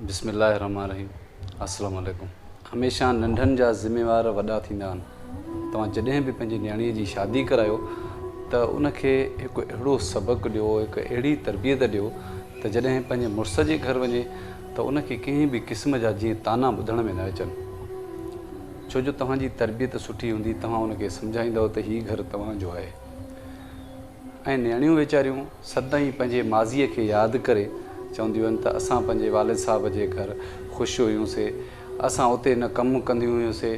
بسم الله الرحمٰن الرحيم السلام عليڪم هميشه ننڍن جا ذميوار وڏا ٿيندا آهن توهان جڏهن به پنهنجي نياڻي جي شادي ڪرايو ته ان کي هڪ اهڙو سبق ڏيو هڪ اهڙي تربيت ڏيو ته جڏهن پنهنجي مڙس جي گهر وڃي ته ان کي ڪنهن به قسم جا جيئن طعنا ٻڌڻ ۾ نه اچن ڇو جو توهان جي تربيت سٺي هوندي توهان ان کي سمجهائيندؤ ته هي گهر توهان جو آهي ۽ نياڻيون ويچاريون سدائين پنهنجي ماضيء کي ياد ڪري چونديون آهن ته اسان پنهنجي والد صاحب جي گهر خوش هيون سي، اسان اتي نه ڪم ڪنديون هيون سي،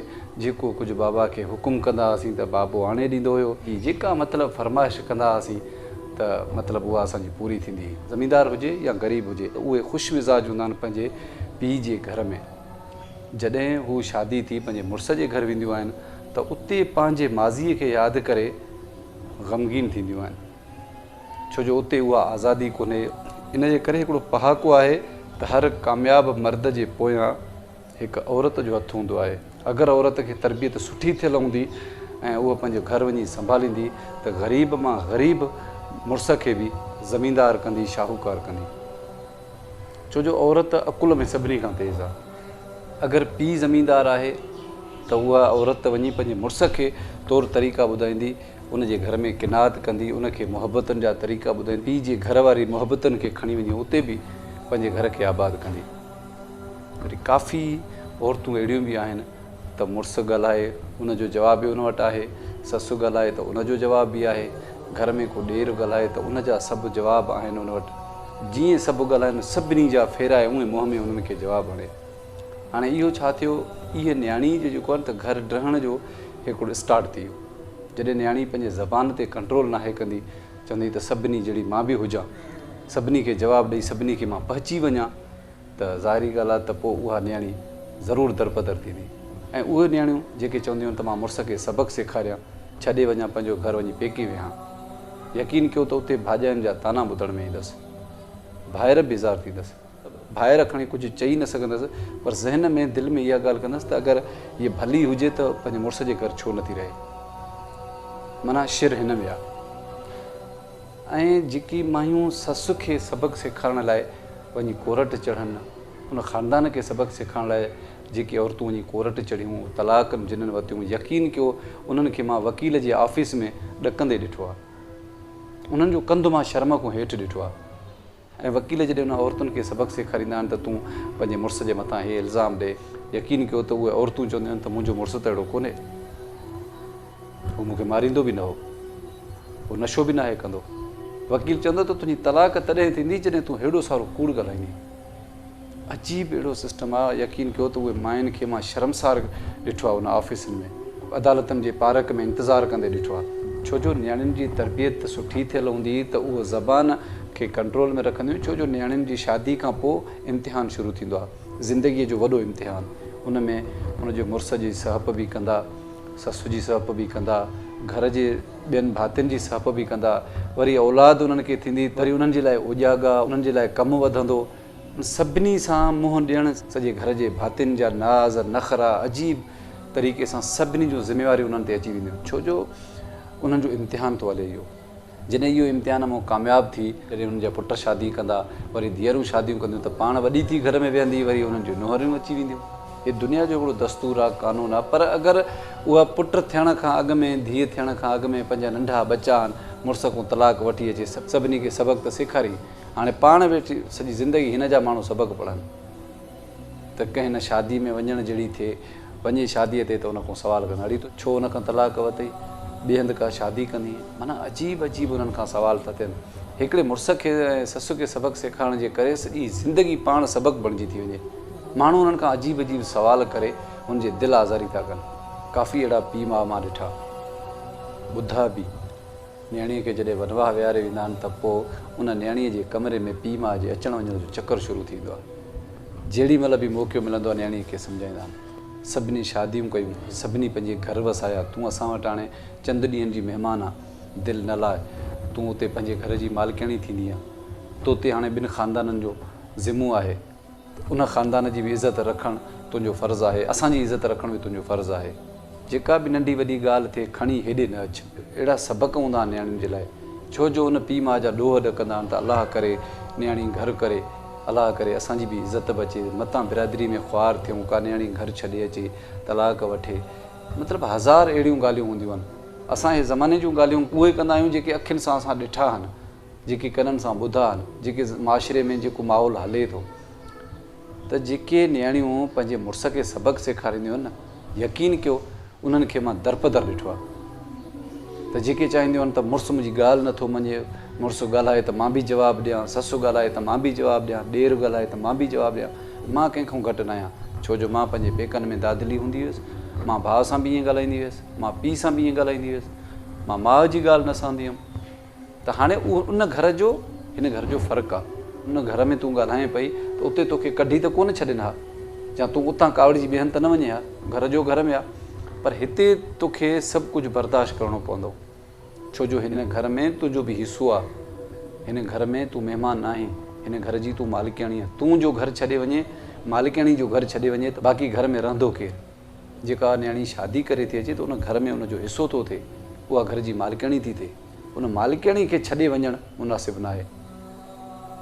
جيڪو ڪجهه بابا کي حڪم ڪندا هئاسين ته بابو آڻي ڏيندو هيو، جي جيڪا مطلب فرمائش ڪندا هئاسين ته مطلب اها اسان جي پوري ٿيندي هئي، زميندار هجي يا غريب هجي ته اهي خوش مزاج هوندا آهن پنهنجي پيء جي گهر ۾، جڏهن هو شادي ٿي پنهنجي مڙس جي گهر وينديون آهن ته اتي پنهنجي ماضيء کي ياد ڪري. غمگين ٿينديون آهن ڇو جو اتي اها آزادي ڪونهي ان جي ڪري هڪڙو پهاڪو آهي ته هر ڪامياب مرد جي پويان هڪ عورت جو هٿ هوندو آهي اگر عورت کي تربيت سٺي ٿيل هوندي ۽ اها پنهنجو گهر وڃي سنڀاليندي ته غريب مان غريب مڙس کي به زميندار ڪندي شاهوڪار ڪندي. ڇو جو عورت عقل ۾ سڀني کان تيز آ. اگر پيء زميندار آهي ته اها عورت وڃي پنهنجي مڙس کي طور طريقا ٻڌائيندي، ان جي گهر ۾ قناعت ڪندي، ان کي محبتن جا طريقا ٻڌائيندي، پيء جي گهر واري محبتن کي کڻي وڃي اتي به پنهنجي گهر کي آباد ڪندي. وري ڪافي عورتون اهڙيون به آهن. ته مڙس ڳالهائي ان جو جواب به ان وٽ آهي، سس ڳالهائي ته ان جو جواب به آهي، گهر ۾ ڪو ڏير ڳالهائي ته ان جا سڀ جواب آهن ان وٽ. جيئن سڀ ڳالهائن سڀني جا ڦيرائي اونئين منهن ۾ انهن کي جواب هڻي. هاڻي اهو ڇا ٿيو اهي نياڻي جو جيڪو آهي نه ته گهر ڊهڻ جو هيڪڙو اسٽارٽ ٿي ويو. جڏهن نياڻي پنهنجي زبان تي ڪنٽرول ناهي ڪندي چوندي ته سڀني جهڙي مان به هجان، سڀني کي جواب ڏئي سڀني کي مان پهچي وڃان، ته ظاهري ڳالهه آهي ته پوء اها نياڻي ضرور درپدر ٿيندي ۽ اهي نياڻيون جيڪي چونديون آهن ته مان مڙس کي سبق سيکاريان ڇڏي وڃان پنهنجو گهر وڃي پيڪي ويهان يقين ڪيو ته اتي ڀاڄاين جا طعنا ٻڌڻ ۾ ايندس ڀائر بيزار ٿيندس. ڀائر کڻي ڪجهه چئي نه سگهندس پر ذهن ۾ دل ۾ اها ڳالهه ڪندس ته اگر هيء ڀلي هجي ته پنهنجي مڙس جي گهر ڇو نٿي رهي؟ معنيٰ شر هن ۾ آهي. ۽ جيڪي مايون سس کي سبق سيکارڻ لاء وڃي ڪورٽ چڙهن، ان خاندان کي سبق سيکارڻ لاء جيڪي عورتون وڃي ڪورٽ چڙهيون، طلاق جنھن ورتيون، يقين ڪيو انھن کي مان وڪيل جي آفيس ۾ ڏڪندي ڏٺو آ. انھن جو ڪنڌ مان شرم کون هيٺ ڏٺو آ. ۽ وڪيل جڏهن انهن عورتن کي سبق سيکاريندا آهن ته تون پنهنجي مڙس جي مٿان هي الزام ڏي، يقين ڪيو ته اهي عورتون چونديون آهن ته منهنجو مڙس ته اهڙو ڪونهي. هو مون کي ماريندو به نه هو. هو نشو به ناهي ڪندو. وڪيل چوندو ته تنهنجي طلاق تڏهن ٿيندي جڏهن تون هيڏو سارو ڪوڙ ڳالهائيندين. عجيب اهڙو سسٽم آ يقين ڪيو ته اهي ماين کي مان شرمسار ڏٺو آ ان آفيسن ۾ عدالتن جي پارڪ ۾ انتظار ڪندي ڏٺو آ ڇو جو نياڻين جي تربيت سٺي ٿيل هوندي ته اهو زبان کي ڪنٽرول ۾ رکنديون ڇو جو نياڻين جي شادي کان پو امتحان شروع ٿيندو آ زندگي جو وڏو امتحان ان ۾ ان جي مڙس جي سهپ به ڪندا سس جي سهپ به ڪندا گهر جي ٻين ڀاتين جي سهپ به ڪندا، وري اولاد انهن کي ٿيندي، وري انهن جي لاء اوجاڳا، انهن جي لاء ڪم وڌندو. ان سڀني سان منهن ڏيڻ، سڄي گهر جي ڀاتين جا ناز، نخرا، عجيب طريقي سان سڀني جون ذميواريون انهن تي اچي وينديون، ڇو جو انهن جو امتحان ٿو هلي اهو. جڏهن اهو امتحان مون ڪامياب ٿي، جڏهن انهن جا پٽ شادي ڪندا، وري ڌيئرون شاديون ڪنديون ته پاڻ وڏي ٿي گهر ۾ ويهندي، وري انهن جون نونهريون اچي وينديون. هي دنيا جو هڪڙو دستور آ، قانون آ، پر اگر اها پٽ ٿيڻ کان اڳ ۾ ڌيء ٿيڻ کان اڳ ۾ پنهنجا ننڍا ٻچا آهن، مڙس کون طلاق وٺي اچي سڀني کي سبق ته سيکارين، هاڻي پاڻ ويٺي سڄي زندگي هن جا ماڻهو سبق پڙهن ته ڪنهن نه شادي ۾ وڃڻ جهڙي ٿئي، وڃي شاديء تي ته ان کون سوال ڪن، اڙي تو ڇو ان کان طلاق ورتئي، ٻئي هنڌ ڪا شادي ڪندين، معنيٰ عجيب عجيب انهن کان سوال ٿا ٿين. هڪڙي مڙس کي ۽ سس کي سبق سيکارڻ جي ڪري سڄي زندگي پاڻ سبق بڻجي ٿي وڃي. ماڻهو انهن کان عجيب عجيب سوال ڪري ان جي دل آزاري ٿا ڪن. ڪافي اهڙا پيء ماء مان ڏٺا. ٻڌا به. نيڻي کي جڏهن ونواهه ويهاري ويندا آهن ته پوء ان نيڻي جي ڪمري ۾ پيء ماء جي اچڻ وڃڻ جو چڪر شروع ٿيندو آهي. جهڙي مهل به موقعو ملندو آهي نيڻي کي سمجهائيندا آهن. سڀني شاديون ڪيون، سڀني پنهنجي گهر وسايا، تون اسان وٽ هاڻي چند ڏينهن جي مهمان آن. دل نه لاء. تون اتي پنهنجي گهر جي مالڪياڻي ٿيندينء. توتي هاڻي ٻن خاندانن جو ذمو آهي. ان خاندان جي به عزت رکڻ تنهنجو فرض آهي. اسان جي عزت رکڻ به تنهنجو فرض آهي. جيڪا به ننڍي وڏي ڳالهه ٿئي کڻي هيڏي نه اچ. اهڙا سبق هوندا آهن نياڻين جي لاء. ڇو جو ان پيء ماء جا ڏوهه ڏڪندا آهن ته الله ڪري نياڻي گهر ڪري. الله ڪري اسان جي به عزت به اچي. متان برادري ۾ خوار ٿيون. ڪا نياڻي گهر ڇڏي اچي. طلاق وٺي. مطلب هزار اهڙيون ڳالهيون هونديون آهن. اسان اهي زماني جون ڳالهيون اهي ڪندا آهيون جيڪي اکين سان اسان ڏٺا آهن. جيڪي ڪنن سان ٻڌا آهن جيڪي معاشري ۾ جيڪو ماحول هلي ٿو ته جيڪي نياڻيون پنهنجي مڙس کي سبق سيکارينديون آهن نه يقين ڪيو انهن کي مان درپدر ڏٺو آهي ته جيڪي چاهينديون آهن ته مڙس منهنجي ڳالهه نٿو مڃي مڙس ڳالهائي ته مان به جواب ڏيان سس ڳالهائي ته مان به جواب ڏيان ڏير ڳالهائي ته مان به جواب ڏيان مان ڪنهن کان گهٽ نه آهيان ڇو جو مان پنهنجي پيڪن ۾ دادلي هوندي هيس مان ڀاء سان به ائين ڳالهائيندي هيس مان پيء سان به ائين ڳالهائيندي هيس مان ماء جي ڳالهه نه سهندي هيم ته هاڻي اهو ان گهر جو هن گهر جو فرق آ. ان گهر ۾ تون ڳالهائين پئي ته اتي توکي ڪڍي ته ڪونه ڇڏين ها يا تون اتان ڪاوڙجي ٻيهن ته نه وڃين ها. گهر جو گهر ۾ آ. پر هتي توکي سڀ ڪجهه برداشت ڪرڻو پوندو. ڇو جو هن گهر ۾ تنهنجو به حصو آ. هن گهر ۾ تون مهمان ناهين. هن گهر جي تون مالڪياڻي آ. تون جو گهر ڇڏي وڃين، مالڪياڻي جو گهر ڇڏي وڃي ته باقي گهر ۾ رهندو ڪير؟ جيڪا نياڻي شادي ڪري ٿي اچي ته ان گهر ۾ ان جو حصو ٿو ٿئي، اها گهر جي مالڪياڻي ٿي ٿئي، ان مالڪياڻي کي ڇڏي وڃڻ مناسب ناهي.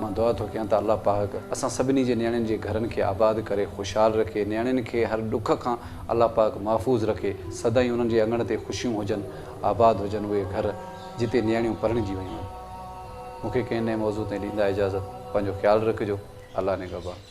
مان دعا ٿو ڪيان ته الله پاڪ اسان سڀني جي نياڻين جي گهرن کي آباد ڪري خوشحال رکي، نياڻين کي هر ڏک کان الله پاڪ محفوظ رکي، سدائين انهن جي اڱڻ تي خوشيون هجن، آباد هجن اهي گهر جتي نياڻيون پرڻجي ويون آهن. مون کي ڪنهن نئين موضوع تائين ڏيندا اجازت، پنهنجو خيال رکجو، الله نگهبان.